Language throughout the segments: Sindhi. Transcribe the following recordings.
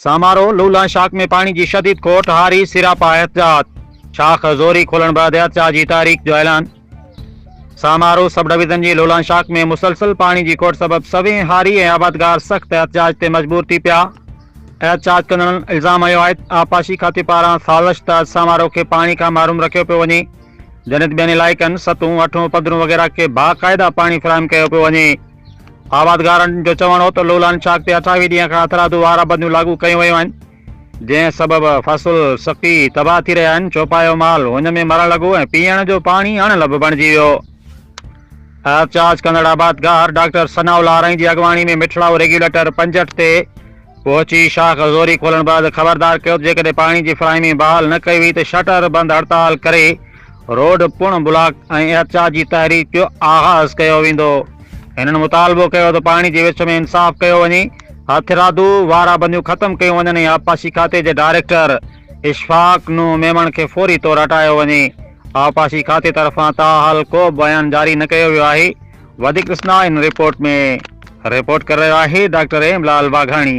سامارو، لولا شاخ ۾ پاڻي جي شديد کوٽ، هاري سراپا احتجاج، شاخ زوري کولڻ بعد احتجاج جي تاريخ جو اعلان سامارو سب ڊويزن جي لولان شاخ ۾ مسلسل پاڻي جي کوٽ سبب سوين هاري ۽ آبادگار سخت احتجاج تي مجبور ٿي پيا، احتجاج ڪندڙن الزام هنيو آهي ته آبپاشي کاتي پاران سازش تحت سامارو کي پاڻي کان محروم رکيو پيو وڃي جڏهن ته ٻين علائقن، سطحون، اٺون، پڌرون وغيره کي باقاعده پاڻي فراهم ڪيو پيو وڃي. آبادگارن جو چوڻ هو ته لولان شاخ تي اٺاويهه ڏينهن کان هٿرادو وارا بنديون لاڳو ڪيون ويون آهن، جنهن سبب فصل سڪي تباهه ٿي رهيا آهن، چوپايو مال هن ۾ مرڻ لڳو ۽ پيئڻ جو پاڻي اڻ لڀ بڻجي ويو. احتجاج ڪندڙ آبادگار ڊاڪٽر ثناء الله آرائين جي اڳواڻي ۾ مٺڙائو ريگيوليٽر پنجهٺ تي پهچي شاخ زوري کولڻ بعد خبردار ڪيو ته جيڪڏهن پاڻي جي فراهمي بحال نه ڪئي وئي ته شٽر بند هڙتال ڪري روڊ پڻ بلاڪ ۽ احتجاج جي تحريڪ جو آغاز ڪيو ويندو. هنن مطالبو ڪيو ته پاڻي جي وچ ۾ انصاف ڪيو وڃي، هٿرادو وارا بنديون ختم ڪيون وڃن ۽ آبپاشي کاتي جي ڊائريڪٽر اشفاق نوح ميمڻ کي فوري طور هٽايو وڃي. آبپاشي کاتي طرفان تاحال ڪو به بيان جاري نه ڪيو ويو آهي. وڌيڪ ڏسنداهن هن رپورٽ ۾. رپورٽ ڪري رهيو آهي ڊاڪٽر ايم لعل واگهاڻي.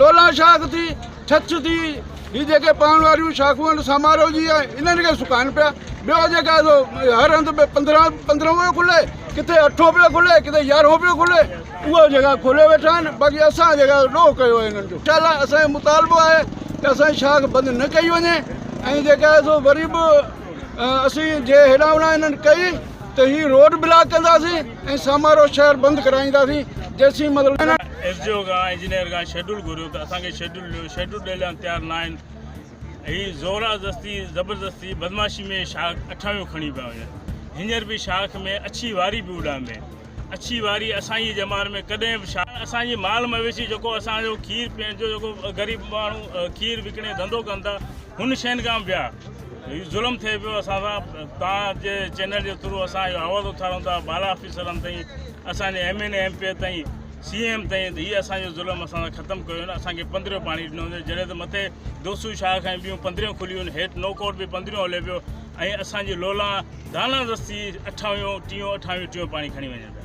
لولا شاخ ٿي ڇڇ ٿي هي جيڪي پوڻ واريون شاخون آهن سامارو جي آهن انهن کي سڪائن پيا ٻيو جيڪا هر هنڌ ۾ پندرهن پندرهن پيو کلي ڪٿي اٺو پيو کلي ڪٿي يارهون پيو کلي اها جيڪا کولي ويٺا آهن باقي اسان جيڪا ڏوهه ڪيو آهي انهن جو چل اسانجو مطالبو آهي ته اسانجي شاخ بند نه ڪئي وڃي ۽ جيڪا آهي سو وري به اسين جي هيڏانهن هوڏانهن انهن ڪئي ته هي روڊ بلاڪ ڪنداسين ۽ سامارو شهر بند ڪرائينداسين جيسين مطلب ايس ڊي او کان انجنيئر کان شيڊول گهريو ته اسان کي شيڊول ڏيو شيڊول ڏيڻ لاء تيار نه آهن هي زورا زستي زبردستي بدماشي ۾ شاخ اٺاويون کڻي پيا وڃن هينئر به شاخ ۾ اڇي واري به اڏام ۾ اڇي واري اسان جي زماني ۾ ڪڏهن به شاخ اسان جي مال مويشي جيڪو اسان جو کير پيئڻ جو جيڪو غريب ماڻهو کير وڪڻي ڌنڌو ڪن ٿا هن شين کان بيا ظلم ٿئي پيو اسان سان تان جي چينل جي ٿرو اسان جو آواز اٿارون ٿا بالا آفيسرن تائين اسان جي M N A M P A تائين سي ايم تائين ته هي اسان جو ظلم اسان سان ختم ڪيو نه اسان کي پندريون پاڻي ڏنو ويو جڏهن ته مٿي دوسو شاخ ۽ ٻيون پندريون کليون آهن هيٺ نو ڪوٽ به پندريون هلي پيو ۽ اسان جي لولا دانا دستي اٺاويون ٽيون اٺاويون ٽيون پاڻي کڻي وڃن پيا